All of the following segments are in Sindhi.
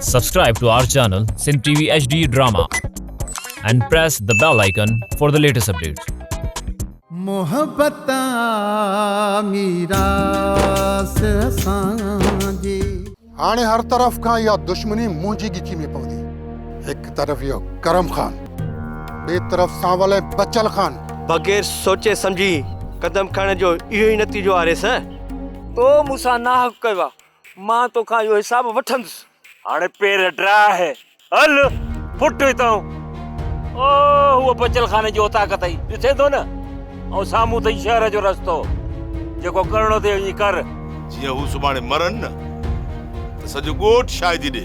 Subscribe to our channel Sindh TV HD Drama and press the bell icon for the latest updates. محبت ميراث اسان جي. هاڻي هر طرف کان اها دشمني منهنجي ڳچي ۾ پوندي. هڪ طرف اهو ڪرم خان، ٻئي طرف سانول ۽ بچل خان. بغير سوچي سمجهي قدم کڻڻ جو اهو ئي نتيجو آريس. تو مون سان ناحق ڪيو آ. مان توکان اهو حساب وٺندس. هاڻي پير ڊاهه، هل ڦٽ هتان. او هوء بچل خاني جي اوطاق اٿئي، ڏسين ٿو نه. ۽ سامهون اٿئي شهر جو رستو. جيڪو ڪرڻو اٿئي وڃي ڪر. جيئن هو سڀاڻي مرن نه ته سڄو ڳوٺ شاهدي ڏي.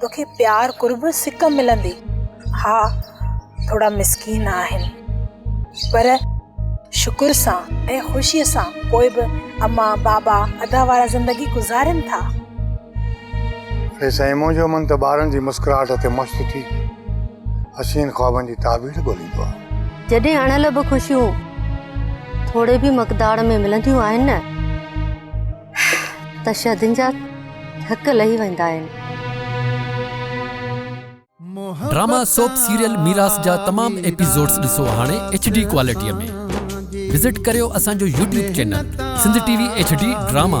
توکي پيار قرب سڪ ملندي ها ٿورا مسڪين آهن پر شڪر سان ۽ خوشي سان پوء به اما بابا ادا وارا زندگي گذارين ٿا. اي سائين منهنجو من ته ٻارن جي مسڪراهٽ تي مست ٿي حسين خوابن جي تعبير ڳوليندو آهي. جڏهن اڻلڀ خوشيون ٿوري به مقدار ۾ ملنديون آهن نه. ته شھدن جا ٿڪ لھي ويندا آھن. ڊراما سوپ سيريل ميراث جا تمام ايپيسوڊز ڏسو هاڻي ايڇ ڊي ڪوالٽي ۾ وزٽ ڪريو اسان جو YouTube channel Sindh T V H D drama.